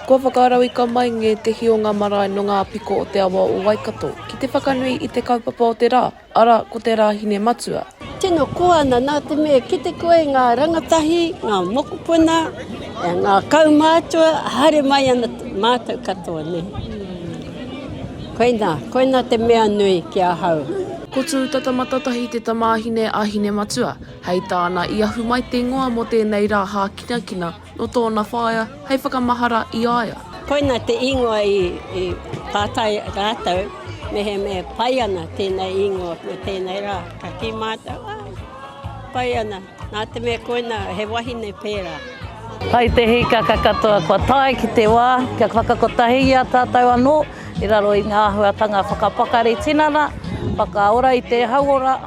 Kua whakarauika mai ngētehi o ngā marae nō ngā piko o te awa o Waikato ki te whakanui i te kaupapa o te rā, arā, ko te Rāhine Matua. Tino koa na na te me kite koe i nga rangatahi, nga mokopuna, e nga kaumatua, haere mai ana matou katoa nei. Koina, koina te mea nui ki ahau. Ko Tūtata Matatahi te tamāhine a Hinematua. Hei tāna, i ahu mai te ingoa mō tēnei rā hākinakina nō tōna whaea hei whakamahara i a ia. Koina te ingoa i pātai rātou mehemea e pai ana tēnei ingoa mō tēnei rā. Ka kī mātou, ā, pai ana, nā te mea koina he wahine pērā. Hai te hīkaka katoa kua tae ki te wā kia whakakotahi i a tātou anō i raro i ngā āhuatanga whakapakari tinana, whakaora i te hauora,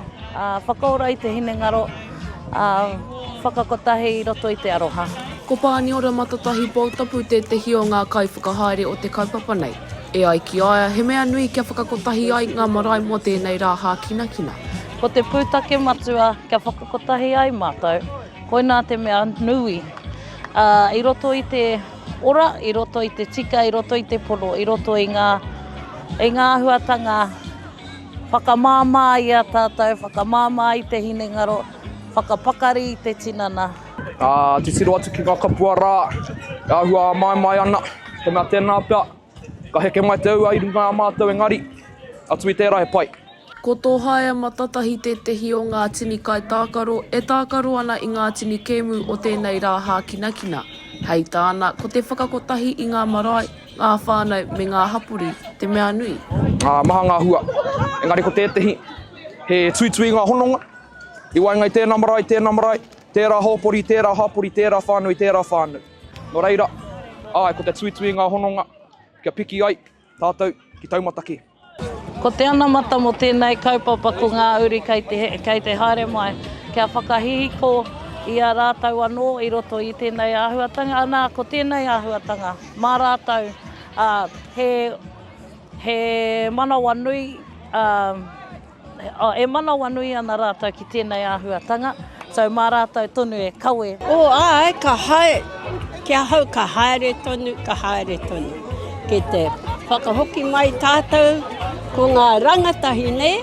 Whakaora i te hinengaro, ā, whakakotahi i roto i te aroha. Ko Pāniora Matatahi Poutapu tētehi o ngā kaiwhakahaere o te kaupapa nei. E ai ki a ia, he mea nui kia whakakotahi ai ngā marae mō tēnei rā hākinakina. Ko te pūtake matua kia whakakotahi ai mātou, koinā te mea nui, ā, i roto i te ora, i roto i te tika, i roto i te pono, i roto i ngā, i ngā āhuatanga. Whakamāmā i a tātou, whakamāmā i te hinengaro, whakapakari i te tinana. Ka titiro atu ki ngā kapua rā, e āhua āmaimai ana, he mea tēnā pea, ka heke mai te ua i runga i a mātou engari, atu i tērā he pai. Ko tō Haeama Tatahi tētehi o ngā tini kaitākaro e tākaro ana i ngā tini kēmu o tēnei rā hākinakina, hei tāna, ko te whakakotahi i ngā marae, Ngā whānau me ngā hapori te mea nui. Ā, maha ngā hua. Engari ko tētehi, he tuitui i ngā hononga. I waenga i tēnā marae, tēnā marae, tērā hōpori, tērā hapori, tērā whānau i tērā whānau. Nō reira, āe, ko te tuitui i ngā hononga kia piki ai tātou ki taumata kē. Ko te anamata mō tēnei kaupapa ko ngā uri kei te, kei te haere mai, kia whakahihiko i a rātou anō i roto i tēnei āhuatanga, anā, ko tēnei āhuatanga mā rātou, ā, he, he manawanui, ā, E manawanui ana rātou ki tēnei āhuatanga, so mā rātou tonu e kawe. Oh, āe, ka hae, ki ahau ka haere tonu, ka haere tonu. Ki te whakahoki mai tātou ko ngā rangatahi nei,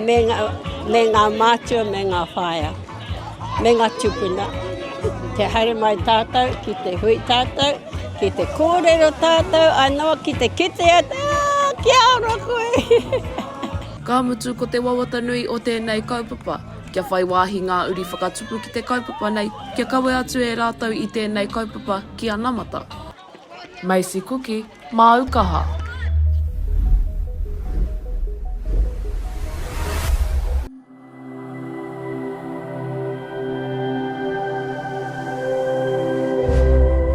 me ngā mātua, me ngā whaea. me ngā tupuna. Kia haere mai tātou ki te hui tātou, ki te kōrero tātou anō, ki te kite atu, ā, kia ora koe! Ka mutu, ko te wawata nui o tēnei kaupapa, kia whai wāhi ngā uri whakatupu ki te kaupapa nei, kia kawe atu e rātou i tēnei kaupapa ki anamata. Macy Kuki, māu kaha.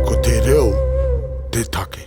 Ko te reo te take.